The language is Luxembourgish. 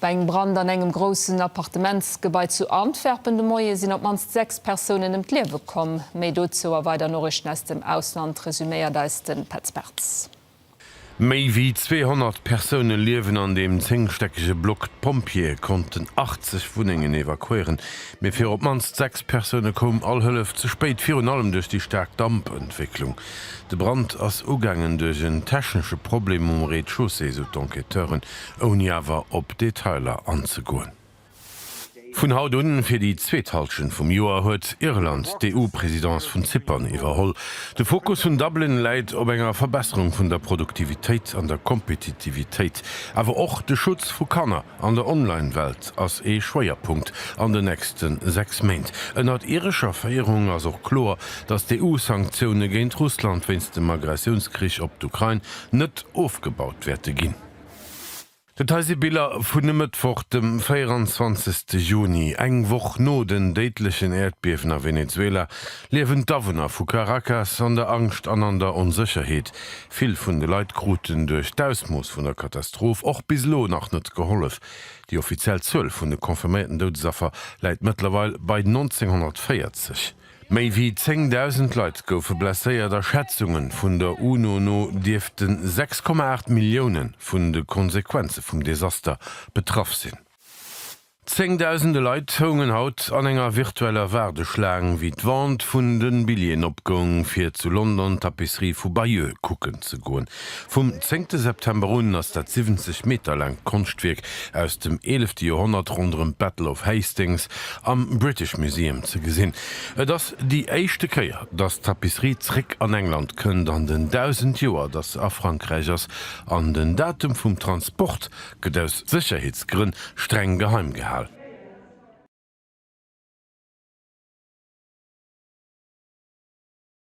Bei engem Brand an engem groussen Appartementsgebai zu Antwerpen de Moie sinn op d'mannst 6 Persounen ëm d'Liewe komm. Méi dozou a weider Noriichten aus dem Ausland resuméiert eis de Petz Bartz. Méi wéi 200 Persoune liewen an deem zéngstäckege Block. D'Pompjeeë konnten 80 Wunnengen evakuéieren, mee fir op d'mannst 6 Persoune koum all Hëllef ze spéit, virun allem duerch déi staark Dampentwécklung. De Brand ass ugaangen duerch en technesche Problem um Rez-de-chaussée, sou d'Enquêteuren. ouni awer op Detailer anzegoen. Vun haut un, fir déi zweet Halschent vum Joer, huet Irland d'EU-Presidence vun Zypern iwwerholl. De Fokus vun Dublin läit op enger Verbesserung vun der Produktivitéit an der Kompetitivitéit. Awer och de Schutz vu Kanner an der Online-Welt ass ee Schwéierpunkt an den nächste sechs Méint. Ënnert irescher Féierung ass och kloer, datt d'EU-Sanktioune géint Russland wéinst dem Aggressiounskrich op d'Ukrain net ofgebaut wäerte ginn. Dat hei si Biller vun e Mëttwoch, dem 24 Juni. Eng Woch no den déidlechen Äerdbiewen a Venezuela liewen d'Awunner vu Caracas an der Angscht an an der Onsécherheet. Vill vun de Leit kruten duerch d'Ausmooss vun der Katastroph och bis elo nach net gehollef. Déi offiziell Zuel vun de confirméierten Doudesaffer läit mëttlerweil bei 1940. Méi wéi 10.000 Leit goufe blesséiert a Schätzunge vun der UNO no dierfte 6,8 Millioune vun de Konsequenze vum Desaster betraff sinn. Zéngdausende Leit houngen haut an enger virtueller Waardeschlaang, wéi d'Vente vun de Billjeeën opgoung, fir zu London d'Tapisserie vu Bayeux kucken ze goen. Vum zéngte September un ass dat 70 Meter laangt Konschtwierk aus dem eelefte Joerhonnert ronderëm d'Battle of Hastings am British Museum ze gesinn. Et ass déi éischte Kéier, datt d'Tapisserie zréck an England kënnt an den 1000 Joer, datt se a Frankräich ass, an den Datum vum Transport gëtt aus Sécherheetsgrënn streng geheim gehal.